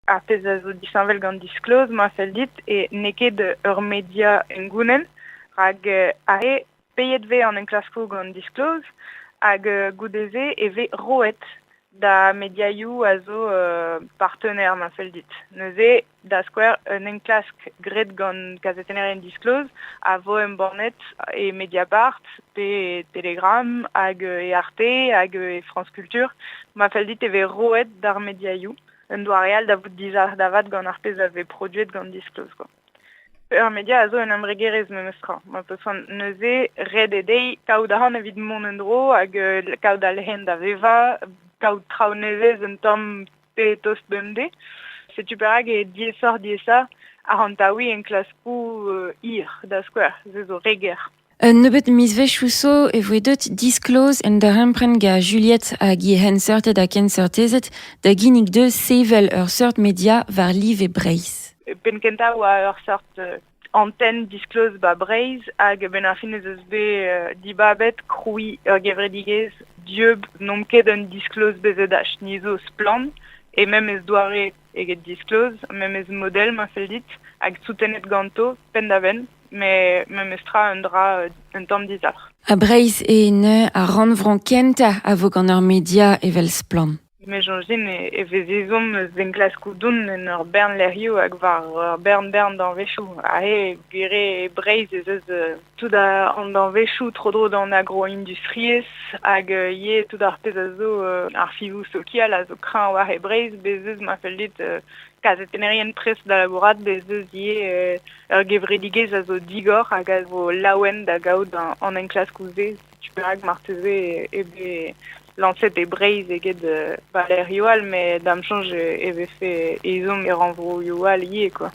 ar pezh a zo disheñvel gant Disclose, ma fell dit, e n'eo ket ur media hengounel, rak aze peilhet vez an enklaskoù gant Disclose, hag goude-se e vez roet da mediaioù a zo partenaire, ma fell dit. Neuze, da skouer, un enklask graet gant kazetennerien Disclose a vo embannet e Mediapart pe e Telegram hag e Arte hag e France Culture. Ma fell dit e vez roet d'ar mediaioù un doare all da vout dizalc'h da vat gant ar pezh a vez produet gant Disclose. Quoi. Ur media a zo un embregerezh memestra. Ma peus neuze ret eo dezhi kaout ahont evit mont en dro hag euh, kaout al hen da vevañ, kaout traoù nevez un tamm pe tost bemdez. Setu perak e diesoc'h diesa ahont taoui enklaskoù euh, hir, da skouer, se zo re ger. Un nebeud mizvezhioù zo e voe deuet disklozh un darempred gant Juliet hag he c'henseurted ha kenseurtezed da ginnig dezhe sevel ur seurt media war live Breizh. E penn kentañ e oa ur seurt euh, antenn diskloz ba Breizh hag ben ar fin ez eus bet euh, dibabet krouiñ ur gevredigezh dieub n'omp ket un diskloz bezet ach ni zo splann et même ez doare eget disclose, memes model ma fell dit, hag soutenet ganto penn-da-benn, met memes tra un dra euh, un tamm dizalc'h. Ha Breizh eo neuze ar rannvro kentañ a vo gant ur media evel Splann. Me soñjin e, e vez ezhomm eus enklaskoù doun en ur bern lec'hioù hag war ur bern-bern danvezioù. Aze, gwir eo, Breizh ez eus euh, Tout an danvezioù tro-dro d'an agroindustriezh hag ivez tout ar pezh a zo ar fivoù sokial a zo kreñv war e Breizh bez' eus ma fell dit kazetennerien prest da labourat bez' eus ivez ur gevredigezh a zo digor hag a zo laouen da gaout an enklaskoù-se setu perak marteze eo bet lañset e Breizh eget ba lec'hioù all met da'm soñj e vefe ezhomm e rannvroioù all ivez quoi.